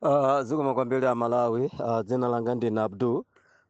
Uh, zikomo kwambiri a Malawi. Uh, dzina langa ndine Abdul.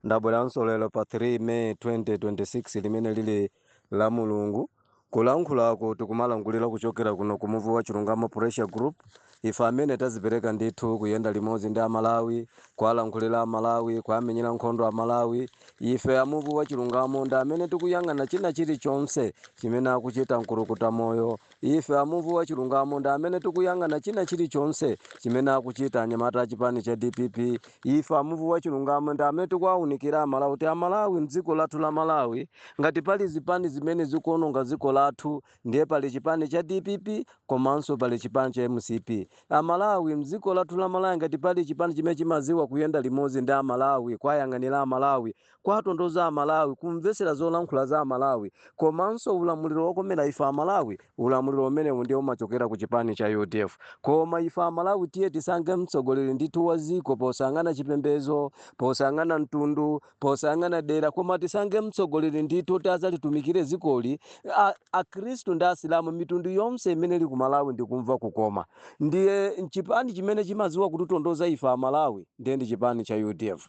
Ndabweranso lero pa 3 May 2026 limene lili la Mulungu. Kulankhulaku tikumalankhulira kuchokera kuno ku Muvi wa Chilungamo Pressure Group. Ife amene tazipereka ndithu kuyenda limodzi ndi a Malawi, kuwalankhulira a Malawi, kuwamenyera nkhondo a Malawi. Ife a Muvi wa Chilungamo ndi amene tikuyang'ana china chilichonse chimene akuchita mkulukuta moyo Ife a Muvi wa Chilungamo ndi amene tikuyang'ana china chilichonse chimene akuchita anyamata a chipani cha dpp. Ife a Muvi wa Chilungamo ndi amene tikuwaunikira aMalawi kuti aMalawi m'dziko lathu la Malawi ngati pali zipani zimene zikuononga dziko lathu ndiye pali chipani cha dpp komanso pali chipani cha mcp. Amalawi m'dziko lathu la Malawi ngati pali chipani chimene chimadziwa kuyenda limodzi ndi aMalawi, kuwayang'anira aMalawi, Kuwatonthoza Amalawi kumvetsera zolankhula za Amalawi komanso ulamuliro wokomera ife Amalawi. Ulamuliro umenewu ndiye umachokera ku chipani cha udf. Koma ife Amalawi tiye tisankhe mtsogoleri ndithu wa dziko posayang'ana chipembedzo, posayang'ana mtundu, posayang'ana dera koma tisankhe mtsogoleri ndithu woti adzalitumikire dzikoli. Akhristu ndi Asilamu, mitundu yonse imene ili ku Malawi ndikumva kukoma. Ndiye chipani chimene chimadziwa kutitonthoza ife Amalawi ndiye ndi chipani cha udf.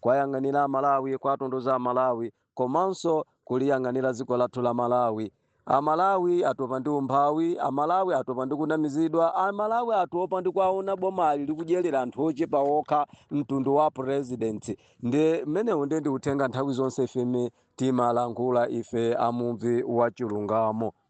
kuwayang'anira amalawi kuwatonthoza amalawi komanso kuliyang'anira dziko lathu la malawi amalawi atopa ndi umphawi amalawi atopa ndi kunamizidwa amalawi atopa ndi kuona bomali likudyerera anthu ochepa okha mtundu wa president ndiye umenewu ndiye ndi uthenga nthawi zonse ifeme timalankhula ife a muvi wa chilungamo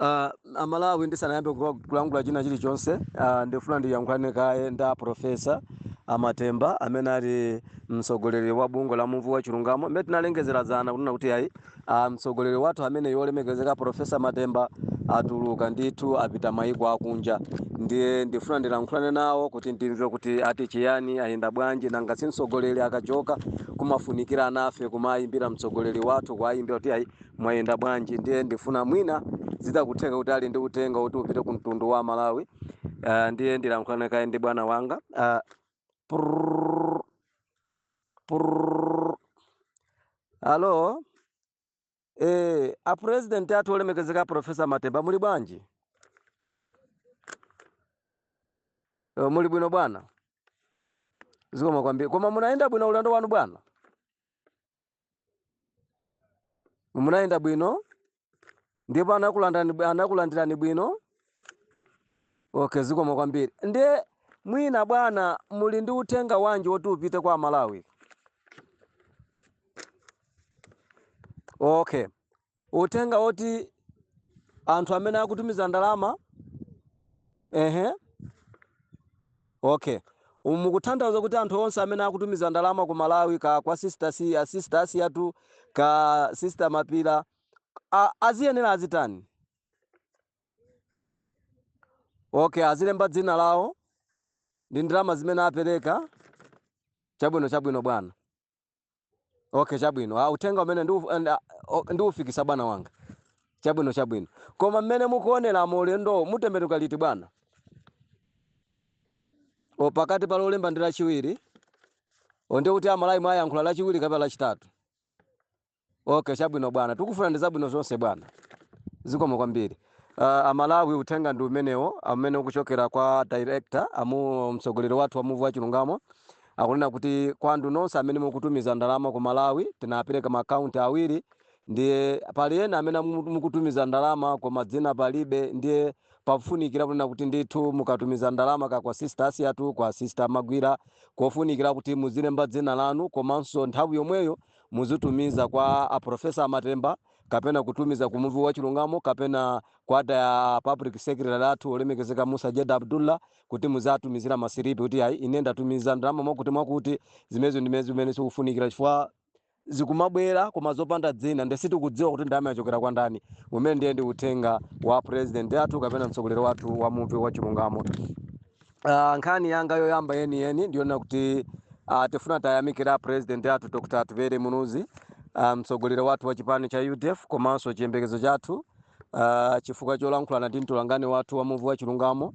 Uh, amalawi ndisanayambe kula- kulankhula china chilichonse uh, ndifuna ndiyankhulane kaye ndi aprofesa amatemba amene ali mtsogoleri wa bungwe la muvi wa chilungamo mmene tinalengezera dzana kunena kuti ayi uh, mtsogoleri wathu amene yolemekezeka profesa matemba atuluka ndithu apita mayiko akunja ndiye ndifuna ndilankhulane nawo kuti ndimve kuti ati chiyani ayenda bwanji nanga si mtsogoleri akachoka kumafunikira anafe kumawayimbira mtsogoleri wathu kuwayimbira kuti ayi Mwayenda bwanji ndiye ndifuna mwina zitakutheka kuti ali ndi uthenga kuti upite ku mtundu wa aMalawi uh, ndiye ndilankhulane kaye ndi bwana wanga uh, prrr, prrr. Alo eh, a president athu olemekezeka a Professor Matemba muli bwanji? Uh, muli bwino bwana, zikomo kwambiri. Koma munayenda bwino ulendo wanu bwana? munayenda bwino ndipo anakulandirani bwi- anakulandirani bwino okay zikomo kwambiri ndiye mwina bwana muli ndi uthenga wanji woti upite kwa amalawi okay uthenga woti anthu amene akutumiza ndalama ehe okay mukutanthauza kuti anthu onse amene akutumiza ndalama ku malawi kaya kwa sister a- sister asiyatu kaya sister mapila a- akuyenera azitani okay azilemba dzina lawo ndi ndalama zimene apereka chabwino chabwino bwana okay chabwino ah, uthenga umene ndiufikitsa ah, bwana wanga chabwino chabwino koma mmene mukuoneramo ulendo mutembenuka liti bwana o pakati pa lolemba ndi lachiwiri o nde kuti amalawi muwayankhula lachiwiri kapena lachitatu Okay, chabwino bwana, tikufunirani zabwino zonse bwana, zikomo kwambiri. Uh, amalawi uthenga ndi umenewo umene ukuchokera kwa director amu mtsogoleri wathu wa muvi wa chilungamo akunena kuti kwa anthu nonse amene mukutumiza ndalama ku malawi tinapereka maakaunti awiri ndiye pali ena amene mu- mukutumiza ndalama koma dzina palibe ndiye pafunikira kunena kuti ndithu mukatumiza ndalama kaya kwa sister asiyatu kwa sister magwira kofunikira kuti muzilemba dzina lanu komanso nthawi yomweyo muzitumiza kwa a Professor Matemba kapena kutumiza ku muvi wa chilungamo kapena kwa a public secretary athu olemekezeka Musa Jeda Abdullah kuti muziwatumizira masilipi kuti ayi ine ndatumiza ndalama mwakuti mwakuti zimenezo ndi zimene zikufunikira chifukwa zikumabwera koma zopanda dzina nde sitikudziwa kuti ndalama zachokera kwa ndani umenewo ndiye ndi uthenga wa president athu kapena mtsogoleri wathu wa muvi wa chilungamo Uh, nkhani yanga yoyamba yeni yeni ndi yonena kuti uh, tifuna tiyamikire a president athu Dr. Atupele Muluzi ah, mtsogoleri um, wathu wa chipani cha UDF komanso chiyembekezo chathu uh, chifukwa cholankhulana ndi mtolankhani wathu wa muvi wa chilungamo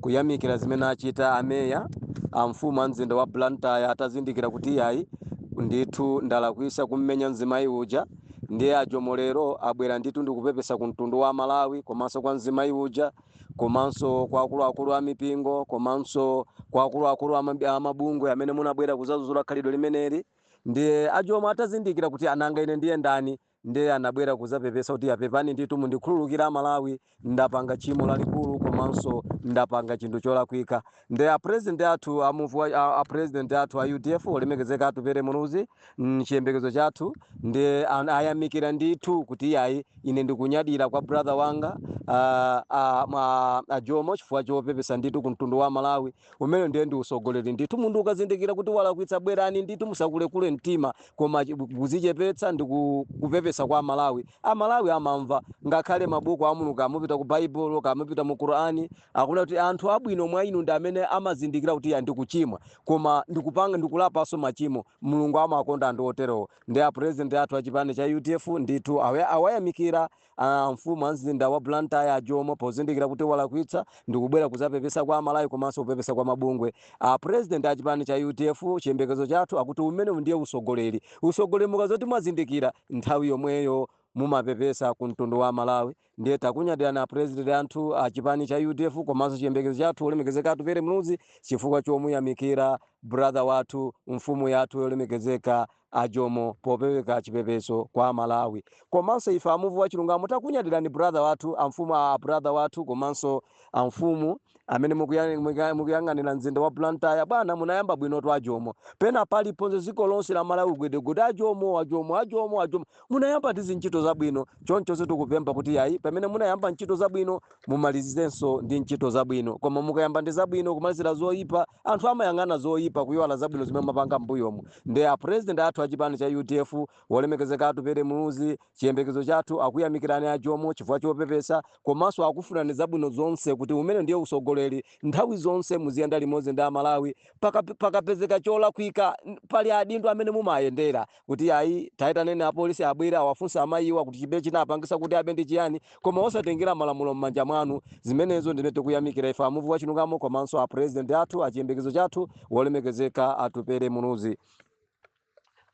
kuyamikira zimene achita a meya a mfumu a mzinda wa Blantyre atazindikira kuti iyayi ndithu ndalakwisa kummenya mzimayi uja ndiye a Jomo lero abwera ndithu ndikupepesa ku mtundu wa Malawi komanso kwa mzimayi uja komanso kwa akuluakulu a mipingo komanso kwa akuluakulu a mabi- a mabungwe amene munabwera kuzadzudzula khalidwe limeneli ndiye a jomo atazindikira kuti a nanga ine ndiye ndani ndiye anabwera kuzapepesa kuti a pepani ndithu mundikhululukire amalawi ndapanga tchimo lalikulu komanso ndapanga chinthu cholakwika Nde a president athu a muvi wa a, a president athu a udf olemekezeka atupele muluzi mm, chiyembekezo chathu ndi an- ayamikira ndithu kuti iyayi ine ndikunyadira kwa brother wanga ah, ah, ma- a jomo chifukwa chopepesa ndithu ku mtundu wa malawi umenewo ndiye ndi utsogoleri ndithu munthu ukazindikira kuti walakwisa bwerani ndithu musakule kule mtima koma chi- kuzichepetsa ndi ku- kupepesa kwa amalawi amalawi amamva ngakhale mabuku a mulungu kaya mupita ku baibulo kaya mupita mu qurani Akunena kuti, Anthu abwino mwa inu ndi amene amazindikira kuti iyayi ndikuchimwa koma ndikupanga ndikulapanso machimo. Mulungu amawakonda anthu oterowo. Nde a President athu a chipani cha udf ndithu awa awayamikira a mfumu a mzinda wa Blantyre a Jomo pozindikira kuti walakwitsa ndikubwera kuzapepesa kwa a Malawi komanso kupepesa kwa mabungwe. A President a chipani cha udf chiyembekezo chathu akuti umenewu ndiye usogoleri. Usogoleri mukazoti mwazindikira nthawi yomweyo mumapepesa ku mtundu wa a Malawi. Ndiye takunyadirani a president athu a chipani cha udf komanso chiyembekezo chathu wolemekezeka Atupele Muluzi chifukwa chomuyamikira brother wathu mfumu yathu yolemekezeka a Jomo popereka chipepeso kwa a Malawi komanso ife a muvi wa chilungamo takunyadirani brother wathu amfumu a brother wathu komanso amfumu amene mukuya- mukuya- mukuyang'anira mzinda wa blantyre bwana munayamba bwinotu ajomo pena paliponse dziko lonse la malawi gwedegwede ajomo ajomo ajomo ajomo munayamba ndi zintchito zabwino choncho ife tikupempha kuti ayi pamene munayamba ntchito zabwino mumalizizenso ndi ntchito zabwino koma mukayamba ndi zabwino kumalizira zoyipa anthu amayang'ana zoyipa kuyiwala zabwino zimene mapanga mbuyomu nde a president athu a chipani cha udf wolemekezeka atupere muluzi Chiyembekezo chathu akuyamikirani a Jomo chifukwa chopepesa komanso akufunirani zabwino zonse kuti umenewu ndiye usogoleri nthawi zonse muziyenda limodzi ndi a Malawi paka pakapezeka cholakwika pali adindo amene mumaayendera kuti ayi taitaneni apolisi abwere awafunse amayiwa kuti chibe chinapangisa kuti abe ndi chiyani koma osatengera malamulo mmanja mwanu zimenezo nzimene tikuyamikira ife amuvi wachilungamo komanso a president athu achiyembekezo chathu wolemekezeka Atupele Muluzi.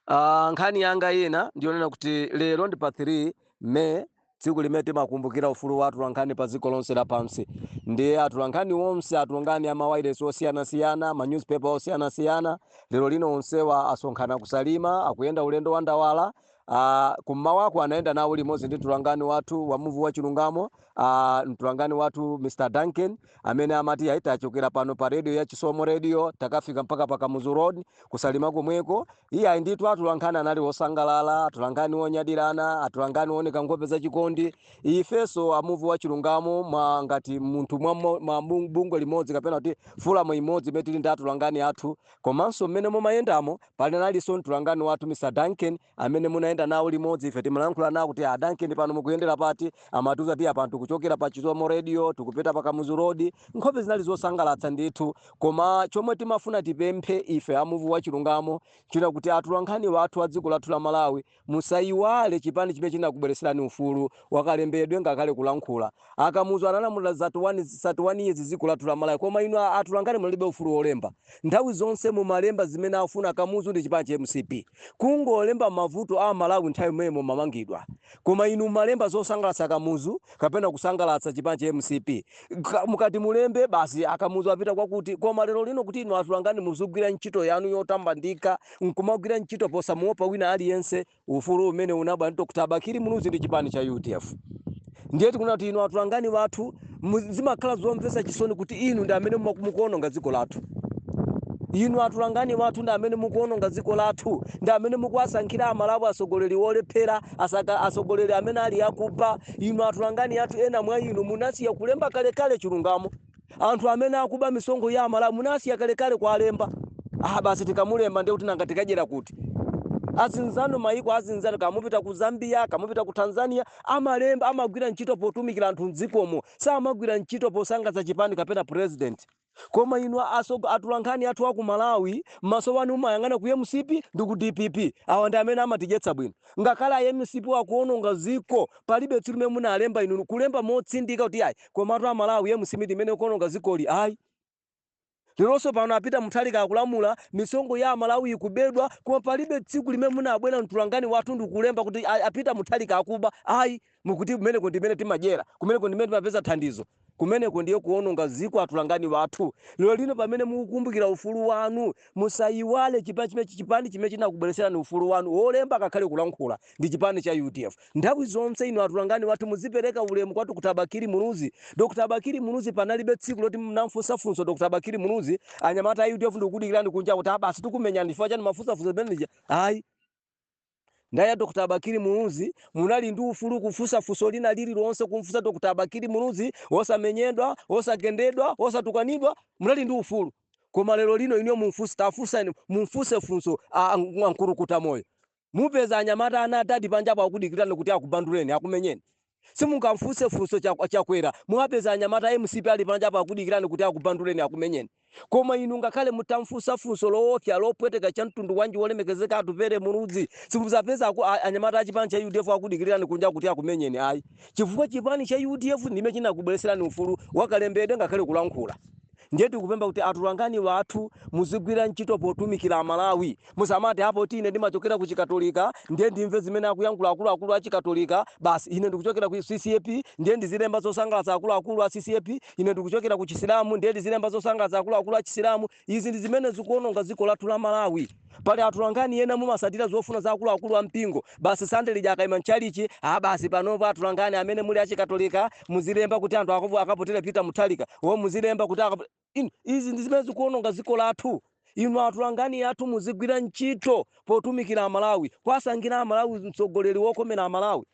Uh, nkhani yanga ina ndiyonena kuti lero ndi pa 3 May tsiku limene timakumbukira ufulu wa atolankhani pa dziko lonse lapansi nde atolankhani onse atolankhani a mawailesi osiyanasiyana ma newspaper osiyanasiyana lero lino onsewa asonkhana kusalima akuyenda ulendo wa ndawala Uh, kummawaku anayenda nawo limodzi ndi mtolankhani wathu wa muvi wa chilungamo uh, mtolankhani wathu Mr Duncan amene amati yayi tachokera pano pa radio ya chisomo radio takafika mpaka pa kamuzu road kusalima komweko iyayi ndithu atolankhani anali osangalala atolankhani onyadirana atolankhani ooneka nkhope za chikondi ifenso amuvi wa chilungamo mwa ngati munthu mwa, mwa, mwa bung- bungwe limodzi kapena kuti forum imodzi imene tili ndi atolankhani athu komanso mmene mumayendamo munalinso mtolankhani wathu mr duncan amene munayenda nawo limodzi ife timalankhula nawo kuti a duncan pano mukuyendera pati amatiuza kuti apano tikuchokera pa chisomo radio tikupita pa kamuzu road nkhope zinali zosangalatsa ndithu koma chomwe timafuna tipemphe ife amuvi wa chilungamo china kuti atolankhani athu a dziko lathu la malawi musayiwale chipani chimene chinakubwereserani ufulu wakalembedwe ngakhale kulankhula A Kamuzu analamulira za 31 years dziko lathu la Malawi koma inu atolankhani munalibe ufulu olemba. Nthawi zonse mumalemba zimene afuna Kamuzu ndi chipani cha mcp. Kungolemba mavuto a Malawi nthawi imene mumamangidwa. Koma inu mumalemba zosangalatsa Kamuzu kapena kusangalatsa chipani cha mcp. Mukati mulembe basi a Kamuzu apita kwakuti. Koma lero lino kuti inu atolankhani muzigwira ntchito yanu yotamandika nkumagwira ntchito posamuopa wina aliyense. Ufulu umene unabwera ndi Dr. Bakili Muluzi ndi chipani cha udf ndiye tikunena kuti inu atolankhani wathu zimakhala zomvetsa chisoni kuti inu ndi amene mukuononga dziko lathu inu atolankhani wathu ndi amene mukuononga dziko lathu ndi amene mukuwasankhira amalawi atsogoleri olephera asaka atsogoleri amene ali akuba inu atolankhani athu ena mwa inu munasiya kulemba kalekale chilungamo anthu amene akuba misonkho ya amalawi munasiya kalekale kuwalemba ah basi tikamulemba ndiye kuti nanga tikadyera kuti azinzanu mayiko azinzanu kamupita ku zambia kamupita ku tanzania amalemba amagwira ntchito potumikira anthu mdzikomo samagwira ntchito posangalatsa chipani kapena president koma inu asogo atolankhani athu aku malawi maso wanu umayang'ana ku mcp ndi ku dpp awa ndi amene amatidyetsa bwino ngakhale a mcp wakuononga ziko palibe tsiku limene munalemba inu kulemba motsindika kuti ayi Komatu a Malawi mcp ndimene ikuononga zikoli ayi leronso pano a Peter Mutharika akulamula misonkho ya amalawi ikubedwa koma palibe tsiku limene munabwera mtolankhani wathu ndikulemba kuti a, a Peter Mutharika akuba ayi mukuti kumeneko ndimene timadyera kumeneko ndimene timapeza thandizo kumeneko ndiye kuononga ziko atolankhani wathu lero lino pamene mukukumbukira ufulu wanu musayiwale chipani chimene chipani chimene chinakubweretserani ufulu wanu wolemba ngakhale kulankhula ndi chipani cha udf Nthawi zonse inu atolankhani wathu muzipeleka ulemu kwa Dr Bakili Muluzi, Dr Bakili Muluzi panalibe tsiku loti mnamfunsa funso Dr Bakili Muluzi, anyamata a udf ndikukudikilani kunja kuti a basi tikumenyani chifukwa chani mwafunsa funso limene lija ayi. Nthawi ya Dr Bakili Muluzi munali ndi ufulu kufunsa funso lina lililonse kumfunsa Dr Bakili Muluzi osamenyedwa, osagendedwa, osatukanidwa munali ndi ufulu koma lero lino inuyo mumfunse tafunsani mumfunse funso a nkulukuta moyo Mupeza anyamata ana a dadi panja apo akudikirani kuti akubanduleni, akumenyeni. Simungamfunse funso Chakw, Chakwera. Muwapeza anyamata a mcp ali panja apo akudikirani kuti akubanduleni, akumenyeni. Koma inu ngakhale mutamfunsa funso loopsa, lopweteka chamtundu wanji Wolemekezeka Atupele Muluzi, simudzapeza aku, a, anyamata a chipani cha udf akudikirirani kunja kuti akumenyeni ayi. Chifukwa chipani cha udf ndime chinakubweretserani ufulu wa kalembedwe ngakhale kulankhula. Ndiye tikupempha kuti atolankhani athu muzigwira ntchito potumikira Amalawi. Musamati, ah, poti ine ndimachokera ku Chikatolika, ndiye ndimve zimene akuyankhula akuluakulu a Chikatolika basi. Ine ndikuchokera ku CCAP, ndiye ndizilemba zosangalatsa akuluakulu a CCAP. Ine ndikuchokera ku Chisilamu, ndiye ndizilemba zosangalatsa akuluakulu a Chisilamu. Izi ndi zimene zikuwononga dziko lathu la Malawi. Pali atolankhani ena mumasatira zofuna za akuluakulu a mpingo basi Sunday lija akaima mchalichi ah basi panopo atolankhani amene muli achikatolika muzilemba kuti anthu akavo akavotere Peter Mutharika or muzilemba kuti akavo izi ndi zimene zikuononga dziko lathu inu atolankhani athu muzigwira ntchito potumikira amalawi kuwasankhira amalawi mtsogoleri wokomera amalawi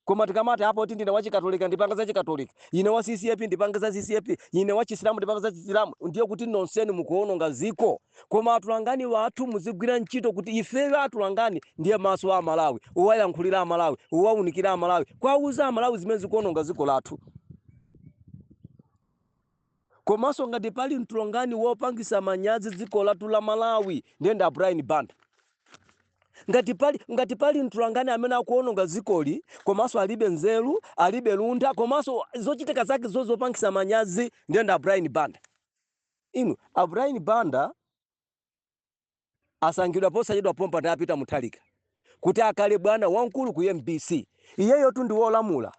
Koma tikamati a poti ndine wa chikatolika ndipanga za chikatolika, ine wa ccap ndipanga za ccap, ine wa chisilamu ndipanga za chisilamu ndiye kuti nonsenu mukuononga dziko. Koma atolankhani athu muzigwira ntchito kuti ifeyo atolankhani ndiye maso a amalawi, owayankhulira amalawi, owaunikira amalawi, kuwauza amalawi zimene zikuononga dziko lathu. Komaso ngati pali mtolankhani wopangisa manyazi dziko lathu la Malawi ndiye ndi a Brian Banda. Ngati pali ngati pali mtolankhani amene akuononga dzikoli komaso alibe nzeru, alibe luntha komaso zochitika zake zopangisa manyazi ndiye ndi a Brian Banda. Inu a Brian Banda. Asankhidwa posachedwa pompa ndi a Peter Mutharika kuti akakhale bwana wamkulu ku mbc. Iyeyotu ndi wolamula.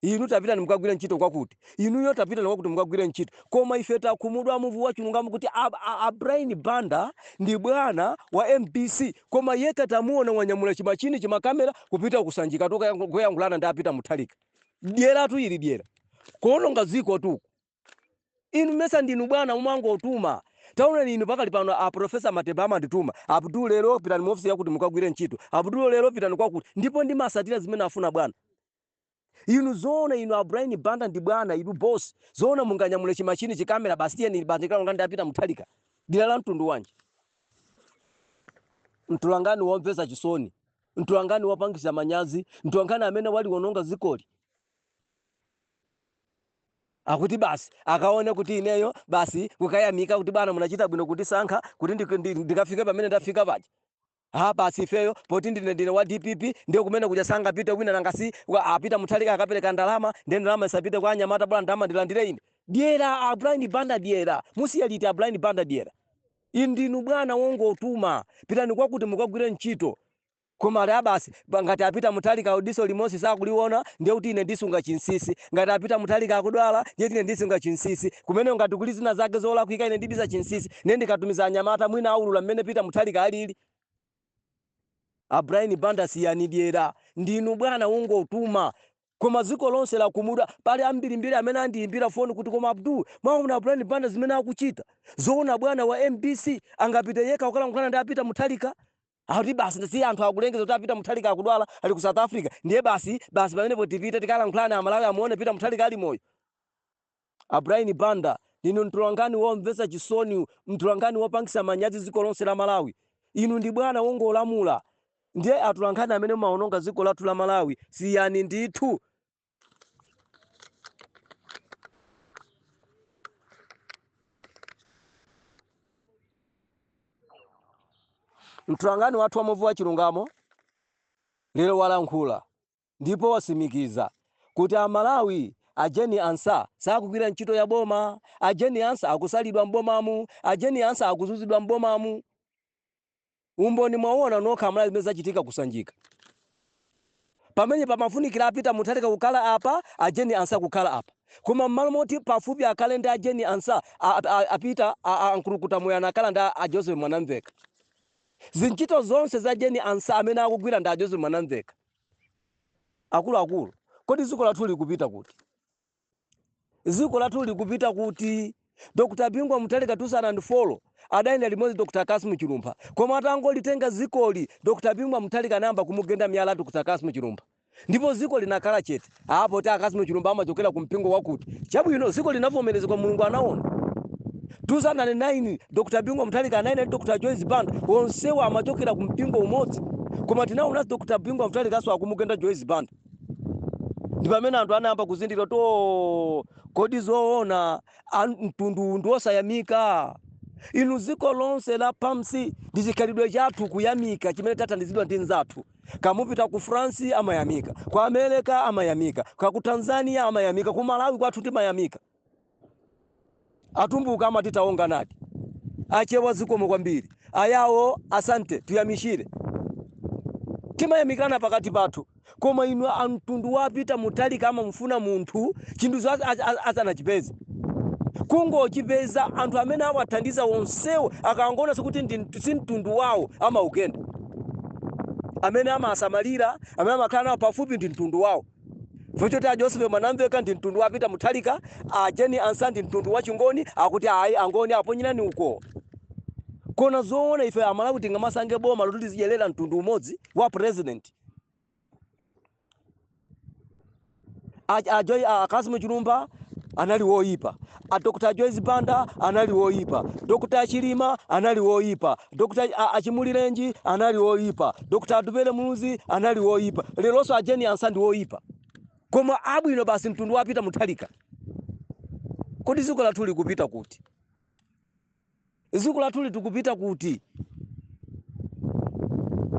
Inu tapitani mukagwire ntchito kwakuti. Inuyo tapitani kwakuti mukagwire ntchito. Koma ife takhumudwa muvu wa chilungamo kuti a a Brian Banda ndi bwana wa mbc koma yekha tamuona wanyamula chi machine chi ma camera kupita ku Sanjikatu kukayankhulana ndi a Peter Mutharika. Dyeratu ili dyera. Kuononga dzikotu uku. Inu mesa ndinu bwana mumangotuma. Taonani inu pakali pano a Professor Mateba amandituma, Abdul lero pitani mu office yakuti mukagwire ntchito, Abdul lero pitani kwakuti, ndipo ndimasatira zimene afuna bwana. Inu zoona inu a Brian Banda ndi bwana, inu boss, zoona munganyamule chi machine chi camera basi tiyeni basi tikalongendi ndi a Peter Mutharika? Dyera la mtundu wanji? Mtolankhani womvesa chisoni, mtolankhani wopangisa manyazi, mtolankhani amene waliwononga dzikoli. akuti basi akaone kuti ineyo basi kukayamika kuti bwana munachita bwino kundisankha kuti ndi- ndi- ndikafike pamene ndafika paja ha basi ifeyo poti ndine ndine wa dpp ndiye kumene kuja sangapite wina nanga si wa- a peter mutharika akapereka ndalama ndiye ndalama isapite kwa anyamata bwana ndalama ndilandire ine dyera a brian banda dyera musiye liti a brian banda dyera inu ndinu bwana wongotuma pitani kwakuti mukagwire ntchito Koma ali ah basi pa ngati a peter mutharika wo diso limosi sakuliwona ndiye kuti ine ndisunga chinsisi ngati a peter mutharika akudwala ndiye kuti ine ndisunga chinsisi kumeneko ngati kuli zina zake zolakwika ine ndibisa chinsisi ndiye ndikatumiza anyamata mwina awulula mmene peter mutharika alili a brian banda siyani dyera ndinu bwana wongotuma koma dziko lonse lakhumudwa pali ambirimbiri amene andiyimbira foni kuti koma abdul mwaona brian banda zimene akuchita zoona bwana wa mbc angapite yekha kukalankhulana ndi a peter mutharika Akuti basi si anthu akulengeza kuti a Peter Mutharika akudwala ali ku South Africa ndiye basi basi pamenepo tipite tikalankhulane Amalawi amuone Peter Mutharika ali moyo. A Brian Banda ndinu mtolankhani womvetsa chisoni, mtolankhani wopangisa manyazi dziko lonse la Malawi. Inu ndi bwana wongolamula ndiye atolankhani amene mumawononga dziko lathu la Malawi siyani ndithu. Mtolankhani wathu wa Muvi wa Chilungamo lero walankhula ndipo wasimikiza kuti a Malawi a Jane Ansah sakugwira ntchito ya boma, a Jane Ansah akusalidwa m'bomamu, a Jane Ansah akuzuzidwa m'bomamu. Umboni mwauona nokha Amalawi zimene zachitika ku Sanjika. Pamenepa pamafunikira a Peter Mutharika kukhala apa, a Jane Ansah kukhala apa. Koma mmalo moti pafupi akhale ndi a Jane Ansah, a, a, a Peter, a, a Nkulukutamoyo anakhala ndi a, a Joseph Mwanamveka. Zintchito zonse za Jane Ansah amene akugwira ndi a Joseph Mwanamveka. Akuluakulu, kodi dziko lathu likupita kuti? Dziko lathu likupita kuti? Dr Bingu Mutharika 2004 adayenda limodzi ndi Dr Kassim Chilumpha koma atangolitenga dzikoli Dr Bingu Mutharika anayamba kumugenda miyala Dr Kassim Chilumpha ndipo dziko linakhala chete. Ah poti a Kassim Chilumpha amachokera ku mpingo wakuti. Chabwino dziko linavomerezeka Mulungu anaona. 2009 Dr Bingu Mutharika anayenda ndi Dr Joyce Banda onsewa amachokera ku mpingo umodzi koma tinaonanso Dr Bingu Mutharika naso akumugenda Joyce Banda. ndi pamene anthu anayamba kuzindira kuti "Oh, kodi zoona a mtundu uwu ndi osayamika inu dziko lonse lapansi ndi chikhalidwe chathu kuyamika chimene tathandizidwa ndi nzathu kamupita ku france amayamika ku america amayamika kaya ku tanzania amayamika ku malawi kwathu timayamika Atumbuka amati tawonga nadi. Achewa zikomo kwambiri. Ayawo asante, tuyamichire. Timayamikirana pakati pathu. Koma inu a mtundu wa Peter Mutharika amamufuna munthu chinthucho as- as- as- asanachipeze. Kungochipeza anthu amene awathandiza onsewo akangoonanso kuti ndi mtu- si mtundu wawo amaugenda. Amene amasamalira, amene amakhala nawo pafupi ndi mtundu wawo. Poti a Joseph Mwanamveka ndi mtundu wa Peter Mutharika, a Jane Ansah ndi mtundu wa Chingoni, akuti ayi Angoni aponyereni uko. Koma zoona ife Amalawi tingamasange boma loti lizidyerera mtundu umodzi wa president. A- a Joy- a Kassim Chilumpha anali woyipa, a Dr. Joyce Banda anali woyipa, Dr. Chilima anali woyipa, Dr. a- a Chimulirenji anali woyipa, Dr. Atupele Muluzi anali woyipa, leronso a Jane Ansah ndi woyipa. Koma abwino basi mtundu wa Peter Mutharika. Kodi dziko lathu likupita kuti? Dziko lathuli tikupita kuti?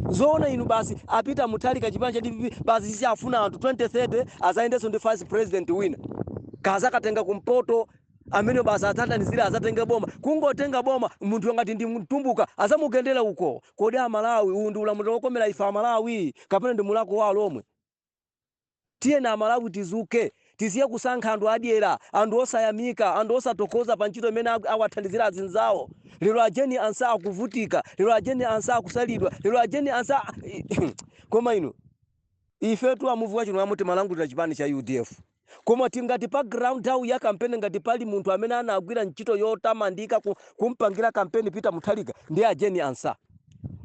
Zoona inu basi apita Mutharika chipani cha dpp basi si afuna anthu 2030 azayendenso ndi vice president wina kaya azakatenga kumpoto amene basi azathandizire azatenge boma kungotenga boma munthu ngati ndi mtumbuka azamugendera uko kodi amalawi uwu ndi ulamuliro wokomera ife amalawi kapena ndi mulako wa alomwe Tiyeni amalawi tidzuke tisiye kusankha anthu adyera, anthu osayamika, anthu osathokoza pa ntchito imene awathandizira azinzawo. Lero a Jane Ansah akuvutika, lero a Jane Ansah akusalidwa, lero a Jane Ansah koma inu. Ifetu a muvi wa Chilungamo timalankhulira chipani cha udf. Koma tingati pa ground nthawi ya kampeni ngati pali munthu amene anagwira ntchito yotamandika ku, kumpangira kampeni Peter Mutharika ndi a Jane Ansah.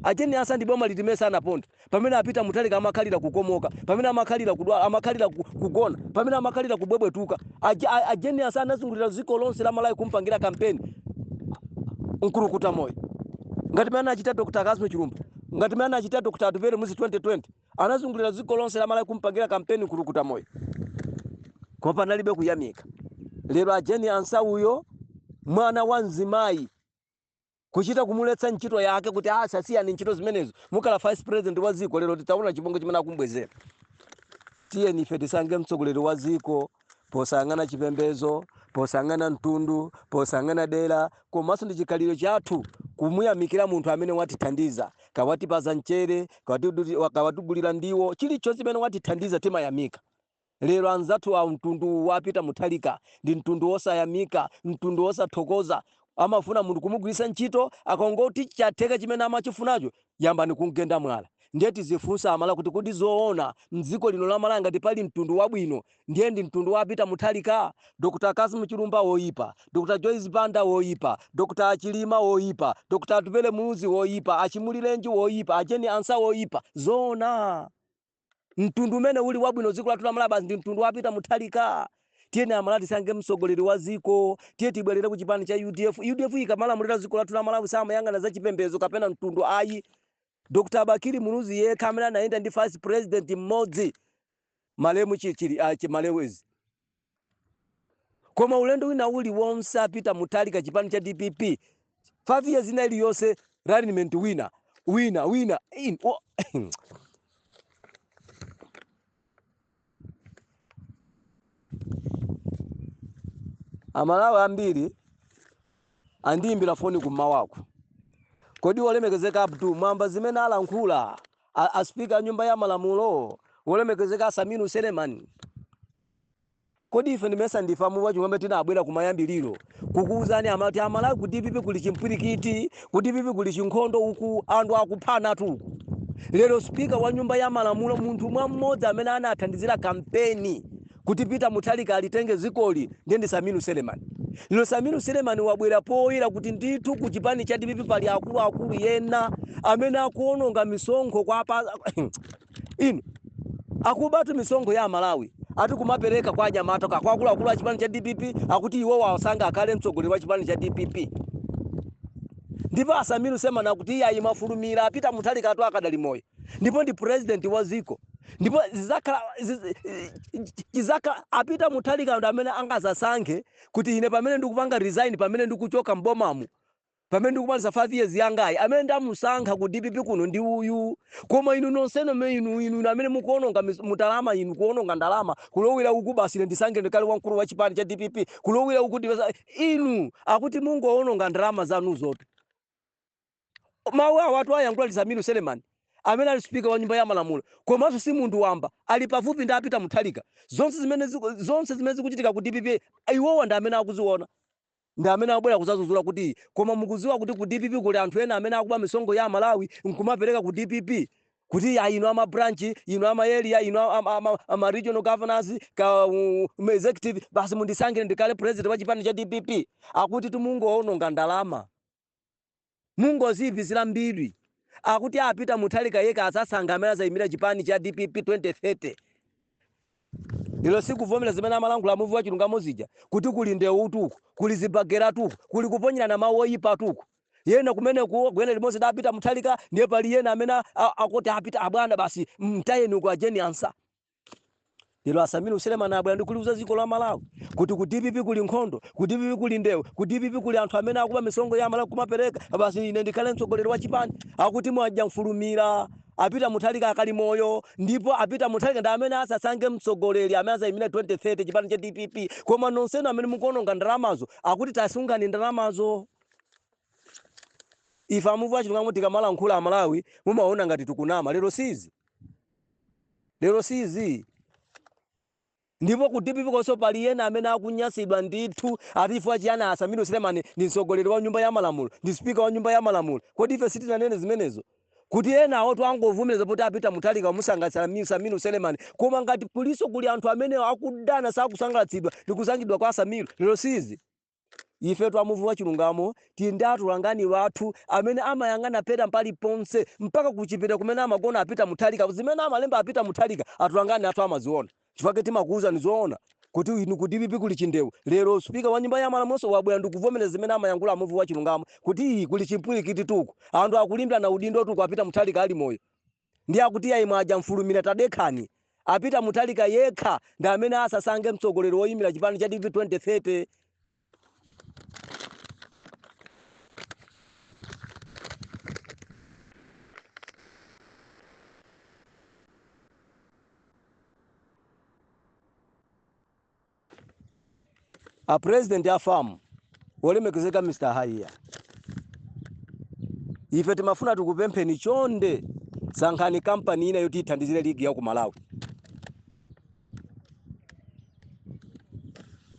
A Jane Ansah ndi boma liti limene sanaponda? Pamene a Peter Mutharika amakhalira kukomoka, pamene amakhalira kudwala, amakhalira ku, kugona, pamene amakhalira kubwebwetuka. A, Je- a, a Jane Ansah anazungulira dziko lonse la Malawi kumpangira kampeni nkulukuta moyo ngati mmene anachita Dr. Cassim Chilumba, ngati mmene anachita Dr. Atupele Muluzi 2020. anazungulira dziko lonse la malawi kumpangira kampeni nkulukuta moyo koma panalibe kuyamika lero a Jane Ansah uyo mwana wa mzimayi kuchita kumuletsa ntchito yake kuti asa siyani ntchito zimenezo mukhala vice president wa dziko lero titaona chibongo chimene akumbwezera tiyeni ife tisankhe mtsogoleri wa dziko posayang'ana chipembedzo posayang'ana mtundu posayang'ana dera komanso ndi chikhalidwe chathu kumuyamikira munthu amene watithandiza kawatipaza mchere kawati- wa- kawatigulira ndiwo chilichonse chimene watithandiza timayamika lero anzathu a mtundu uwu a Peter Mutharika ndi mtundu wosayamika mtundu wosathokoza Amafuna munthu kumugwiritsa ntchito akangoti chatheka chimene amachifunacho yambani kumgenda mwala. Ndiye tizifunse amalawi kuti kodi zoona mdziko lino la malawi ngati pali mtundu wabwino ndiye ndi mtundu wa a Peter Mutharika? Dr cassim chilumba woyipa, Dr joyce banda woyipa, Dr a Chilima woyipa, Dr atupele muluzi woyipa, a Chimulirenji woyipa, a Jane Ansah woyipa. Zoona? mtundu umene uli wabwino dziko lathu la Malawi basi ndi mtundu wa Peter Mutharika tiyeni amalawi tisankhe mtsogoleri wa dziko tiye tibwerere ku chipani cha udf udf ikamalamulira dziko lathu la malawi samayang'ana za chipembedzo kapena mtundu ayi dr bakili muluzi yekha amene anayenda ndi vice president mmodzi malemu chichiri uh, malewezi Koma ulendo wina uli wonse a Peter Mutharika chipani cha dpp 5 years ina ili yonse running mate wina wina wina in, oh, amalawi ambiri andiyimbira foni kummawaku kodi olemekezeka abdu mwamva zimene alankhula a, a speaker a nyumba ya malamulo wolemekezeka Sameer Suleman kodi ife ndimesa ndife a muvi wa chilungamo tinabwera kumayambiriro kukuwuzani amati amalawi ku DPP kuli chimpwirikiti ku DPP kuli chinkhondo uku anthu akuphanatu uku lero spika wa nyumba ya malamulo munthu mwa mmodzi amene anathandizira kampeni kuti Peter Mutharika alitenge zikoli ndiye ndi Sameer Suleman. Lero Sameer Suleman wabwera poyera kuti ndithu ku chipani cha DPP pali akuluakulu ena amene akuononga misonkho kapena akubatu misonkho ya Malawi ati kumapereka kwa anyamata kwa akuluakulu a chipani cha DPP akuti iwo awasankhe akhale mtsogoleri wa chipani cha DPP ndipo a Sameer Suleman akuti ayi mwafulumira a Peter Mutharikatu akadali moyo ndipo ndi president wa dziko ndipo zizakhala ziz- chizakhala a Peter Mutharika ndi amene angazasankhe kuti ine pamene ndikupanga resign pamene ndikuchoka mbomamu pamene ndikumaliza 5 years yangayi amene ndamusankha ku dpp kuno ndi uyu koma inu nonsenu me inu inu inu amene mukuononga mis- ndalama inu kuononga ndalama kulowera uku basi ine ndisankhe ndikhale wamkulu wa chipani cha dpp kulowera uku ndipeza inu akuti mungoononga ndalama zanuzotu Mawu awatu wayankhula ndi Sameer Suleman amene ali spika wa nyumba ya malamulo komanso si munthu wamba, ali pafupi ndi a Peter Mutharika. Zonse zimene ziku- zonse zimene zikuchitika ku DPP iwowa ndi amene akuziona ndi amene akubwera kuzazuzula kuti koma mukuziwa kuti ku DPP kuli anthu ena amene akuba misonkho ya Malawi nkumapereka ku DPP kuti ya inu ama branch inu ama area inu ama, ama, ama regional governors ka um, executive basi mundisankhe ndikhale president wa chipani cha DPP akutitu mungoononga ndalama Mungoziipisira mbiri akuti a Peter Mutharika yekha azasankha amene azaimira chipani cha dpp 2030 lero sikuvomera zimene amalankhula muvi wachilungamo zija kuti kuli ndewutu uku kuli zibakeratu uku kuli kuponyerana mau oipatu uku ena kumeneku ogwira limodzi ndi a Peter Mutharika ndiye pali ena amene a, a, akuti a Peter abwana basi mtayeni uku a Jane Ansah lero a Sameer Suleman abwera ndi kuliuza dziko la malawi kuti ku dpp kuli nkhondo ku dpp kuli ndewu ku dpp kuli anthu amene akuba misonkho ya malawi kumapereka basi ine ndikhale mtsogoleri wa chipani akuti mwadya mfulumira a Peter Mutharika akali moyo ndipo a Peter Mutharika ndi amene azasankhe mtsogoleri amene azayimira 2030 chipani cha dpp koma nonsenu amene mukuononga ndalamazo akuti tasungani ndalamazo ife a muvi wa chilungamo tikamalankhula amalawi mumaona ngati tikunama lero si izi Lero si izi. Ndipo ku dpp konso pali ena amene akunyansidwa ndithu ati chifukwa chiyani a Sameer Suleman ndi mtsogoleri wa nyumba ya malamulo, ndi speaker wa nyumba ya malamulo. Kodi ife sitinanene zimenezo? Kuti enawotu angovomereza poti a Peter Mutharika wamusangalatsa a Sameer Suleman. Koma ngati kulinso kuli anthu amene akudana, sakusangalatsidwa ndi kusankhidwa kwa a Sameer, lero si izi. Ifetu a Muvi wa Chilungamo tili ndi atolangani wathu amene amayang'ana a Peter pali ponse mpaka ku chipinda kumene amagona a Peter Mutharika zimene amalemba a Peter Mutharika atolangani athu amaziona chifukwa chake timakuuzani zoona kuti inu ku dpp kuli chindewu lero speaker wa nyumba ya malamulonso wabwera ndikuvomereza zimene amayankhula a Muvi wa Chilungamo kuti kuli chimpwirikititu uku anthu akulimbirana udindotu uku a Peter Mutharika ali moyo ndiye akuti iyayi mwadya mfulumira tadekhani a Peter Mutharika yekha ndi amene azasankhe mtsogoleri woyimira chipani cha dpp 2030 A President a FAM, olemekezeka Mr. Haiya, ife timafuna tikupempheni chonde sankhani kampani ina yoti ithandizire ligi ya ku Malawi.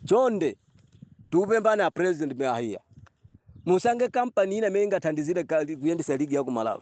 Chonde tikupemphani a President Mr. Haiya, musankhe kampani ina imene ingathandizire ka- kuyendetsa ligi ya ku Malawi.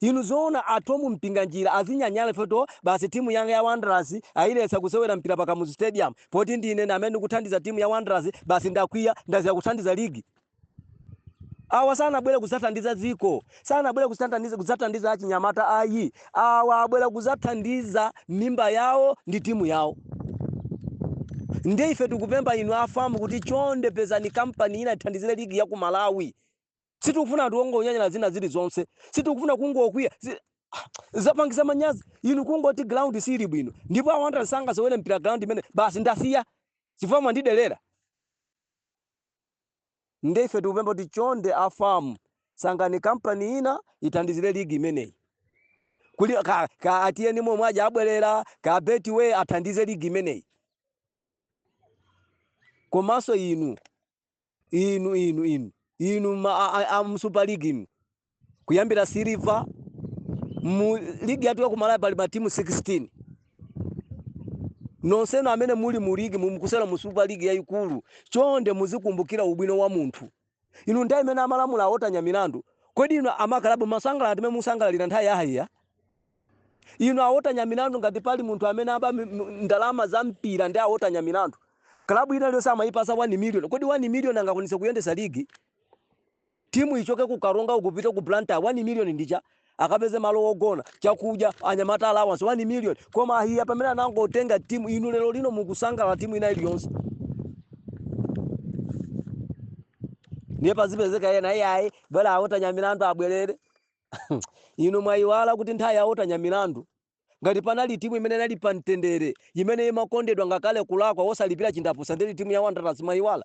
Inu zoona a Thom Mpinganjira azinyanyala chifukwa choti basi team yanga ya Wanderers ayiletsa kusewera mpira pa Kamuzu Stadium poti ndi ine amene ndikuthandiza team ya Wanderers basi ndakwiya ndasiya kuthandiza league. Awa sanabwere kuzathandiza dziko, sanabwere kuzathandiza kuzathandiza achinyamata ayi. Awa abwera kuzathandiza mimba yawo ndi timu yawo. Ndiye ife tikupempha inu a FAM kuti chonde pezani kampani ina ithandizire ligi ya ku Malawi. sitikufuna anthu ongonyanyala zina zilizonse sitikufuna kungokwiya si- zapangisa manyazi inu kungoti ground siili bwino ndipo a Wanderers sangasewere mpira ground imene basi ndasiya chifukwa mwandidelera nde ife tikupempha kuti chonde a FAM sankhani kampani ina ithandizire ligi imeneyi kuli ka, ka atiyeni momwe aja abwerera ka betway athandize ligi imeneyi komanso inu inu inu inu inu ma, a, a, a mu super ligi inu kuyambira siliva mu ligi yathu yakumalawi pali matimu 16 nonsenu amene muli mu ligi mu- mukusewera mu super league yayikulu chonde muzikumbukira ubwino wa munthu inu nthawi imene amalamula a Walter Nyamilandu kodi inu amakalabu munkasangalala mmene mukusangalalira nthawi ya Haiya Inu a Walter Nyamilandu ngati pali munthu amene aba ndalama za mpira ndi a Walter Nyamilandu. Club ina iliyonse amayipasa 1 million. Kodi 1 million angakwanitse kuyendesa ligi? Timu ichoke ku Karonga kupita ku Blantyre 1 million ndi chani? Akapeze malo ogona, chakudya, anyamata allowance 1 million. Koma a Haiya pamene anangotenga timu inu lero lino mukusangalala timu ina iliyonse. Ndiye pazipezeka ena iyayi bola a Walter Nyamilandu abwerere. Inu mwayiwala kuti nthawi ya Walter Nyamilandu, ngati panali timu imene inali pa mtendere, imene imakondedwa ngakhale kulakwa osalipira chindapusa ndiri timu ya Wanderers mwayiwala?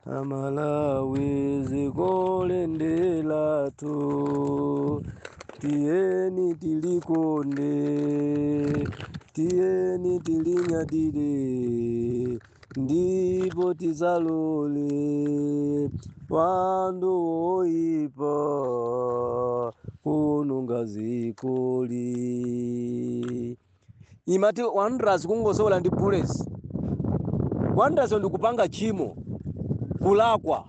A Malawi dzikoli ndi lathu tiyeni tilikonde tiyeni tilinyadire Ndipo tisalole wanthu woipa kuononga dzikoli imati wanderers kungosewera ndi bullets wanderers ndi kupanga tchimo kulakwa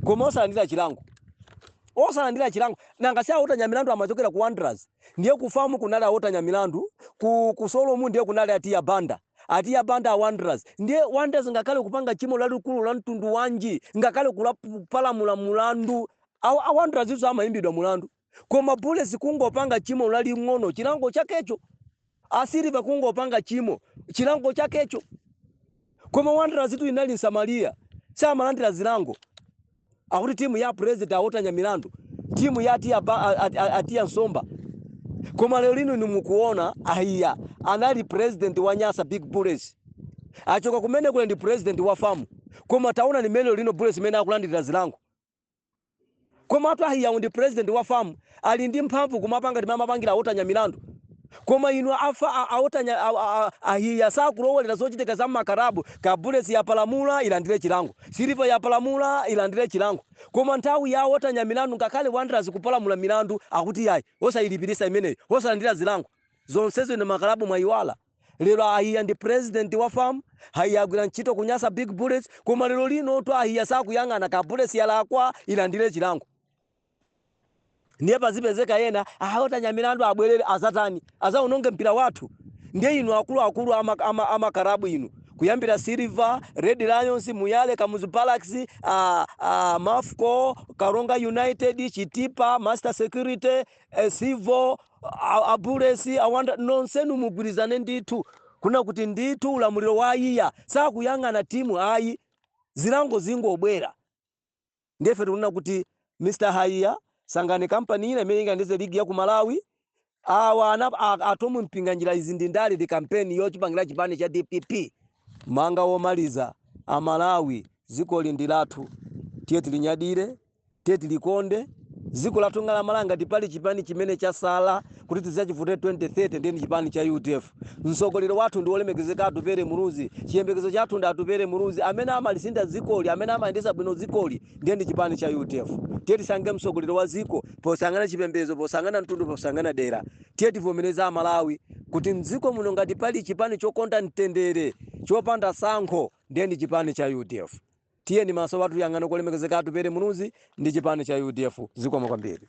koma osalandira chilango osalandira chilango nanga si a walter nyamilandu amachokera ku wanderers ndiye ku fam kunali a walter nyamilandu ku, ku sulom ndiye kunali a tiya banda A Tiya Banda a Wanderers ndiye Wanderers ngakhale kupanga tchimo lalikulu la mtundu wanji ngakhale kupalamula mulandu a Wanderers samayimbidwa mulandu koma Bullets kungopanga tchimo laling'ono chilango chakecho a Silver kungopanga tchimo chilango chakecho koma Wanderers tu inali Msamaria samalandira zilango akuti timu ya president a walter nyamilandu timu ya a tiya, ba, a- a- a- a tiya somba koma lero lino inu mukuona a haiya anali president wa nyasa big bullets achoka kumeneko lero ndi president wa fam koma taonani mmene lero lino bullets mmene akulandirira zilango komatu a haiyawo ndi president wa fam ali ndi mphamvu kumapanga ngati mmene amapangira a walter nyamilandu koma inu afa a walter nya a haiya sakulowerera zochitika za mmakarabu kaya bullets yapalamula ilandire chilango silver yapalamula ilandire chilango koma nthawi ya a walter nyamilandu ngakhale wanderers kupalamula milandu akuti yayi osayilipiritsa imeneyo osalandira zilango zonsezo inu a makarabu mwayiwala lero a haiya ndi president wa fam a haiya agwira ntchito ku nyasa big bullets koma lero linotu a haiya sakuyang'ana kaya bullets yalakwa ilandire chilango ndiye pazipezeka ena a walter nyamilandu abwerere adzatani adzaononge mpira wathu ndiye inu akuluakulu ama, ama, ama karabu inu kuyambira silver red lions moyale kamuzu barracks uh, uh, mafco karonga united chitipa master security uh, civo uh, a bullets a wanderers nonsenu mugwirizane ndithu kunena kuti ndithu ulamuliro wa a haiya sakuyang'ana timu ayi zilango zingobwera Ndiye ife tikunena kuti Mr. Haiya sankhani kampani ina imene ingathandize ligi ya ku Malawi. Awa ana a, a Thom Mpinganjira izi ndi ndale ndi kampeni yochipangira chipani cha DPP. Mau anga omaliza a Malawi dzikoli ndi lathu. Tiye tilinyadire, tiye tilikonde. Dziko lathu la Malawi ngati pali chipani chimene chasala kuti tidzachivotere 2030 ndiye ndi chipani cha UDF. Mtsogoleri wathu ndi wolemekezeka Atupele Muluzi. Chiyembekezo chathu ndi Atupele Muluzi amene angalisinthe dzikoli, amene angayendetse bwino dzikoli ndiye ndi chipani cha udf. Tiye tisankhe mtsogoleri wa dziko posayang'ana chipembedzo, posayang'ana mtundu, posayang'ana dera. Tiye tivomereze Amalawi kuti m'dziko muno ngati pali chipani chokonda mtendere, chopanda tsankho ndiye ndi chipani cha udf. Tiyeni maso wathu tiyang'ane kwa olemekezeka Atupele Muluzi ndi chipani cha udf. Zikomo kwambiri.